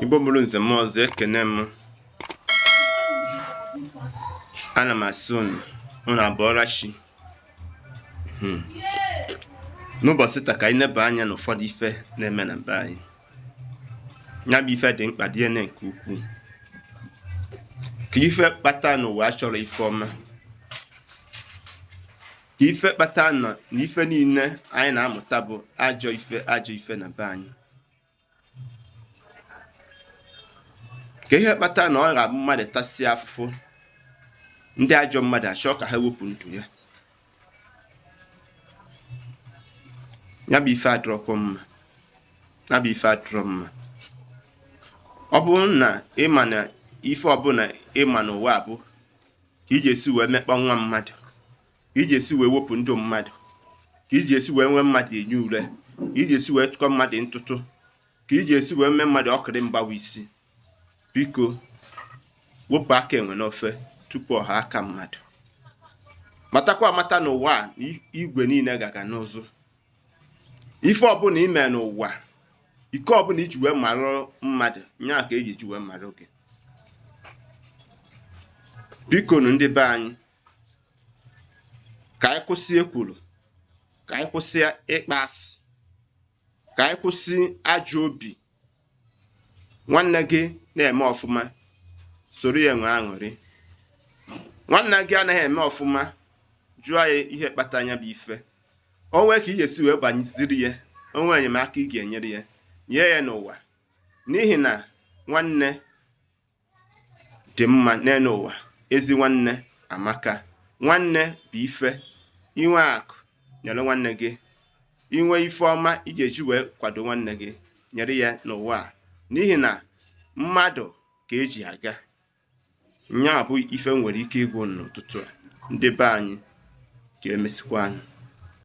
Igbo bụrụ nze m ọzọ ekene m ana m asị unu unu abọọla chi n'ụbọchị taa ka anyị neba anya n'ụfọdụ ife na-eme na be anyị ya bụ ife dị mkpa dị ene nke ukwuu kee ife kpata n'ụwa achọrọ ife ọma kee ife kpata na ife niile anyị na-amụta bụ ajọ ife ajọ ife na be anyị kee ihe kpata na ọ ga-abụ mmadụ tasịa afụfụ ndị ajọ mmadụ achọọ ka ha wepụ ndụ ya ya bụ ife adịrọkwa mma ya bụ ife adịrọ mma ọ bụrụ na ịma na ife ọbụla ịma n'ụwa a bụ ka iji esi wee mekpa nwa mmadụ ka iji esi wee wepụ ndụ mmadụ ka iji esi wee nye mmadụ enyi ure ka iji esi wee tụkọ mmadụ ntụtụ ka iji esi wee mee mmadụ ọkịrị mgbawa isi biko wepụ aka enwe n'ofe tupu ọ ghọọ aka mmadụ matakwa amata n'ụwa a na igwe niile ga-aga n'ụzụ ife ọbụla ime n'ụwa ike ọbụla iji wee marụ mmadụ nya ka eji eji wee marụ gị biko nu ndị be anyị ka anyị kwụsị ekworo ka anyị kwụsị ịkpa asị ka anyị kwụsị ajọ obi nwanne gị na-eme ọfụma soro ya nwee aṅụrị nwanne gị anaghị eme ọfụma jụọ ya ihe kpata nya bụ ife o nwee ka ị ga-esi wee gbaziri ya o nwee enyemaka ị ga-enyere ya nye ya n'ụwa n'ihi na nwanne dị mma n'elu ụwa ezi nwanne amaka nwanne bụ ife inwe akụ nyere nwanne gị inwe ife ọma ị ga-eji wee kwado nwanne gị nyere ya n'ụwa a n'ihi na mmadụ ka eji aga nya bụ ife m nwere ike ịgwa unu n'ụtụtụ a ndị be anyị ka emesịkwa anyị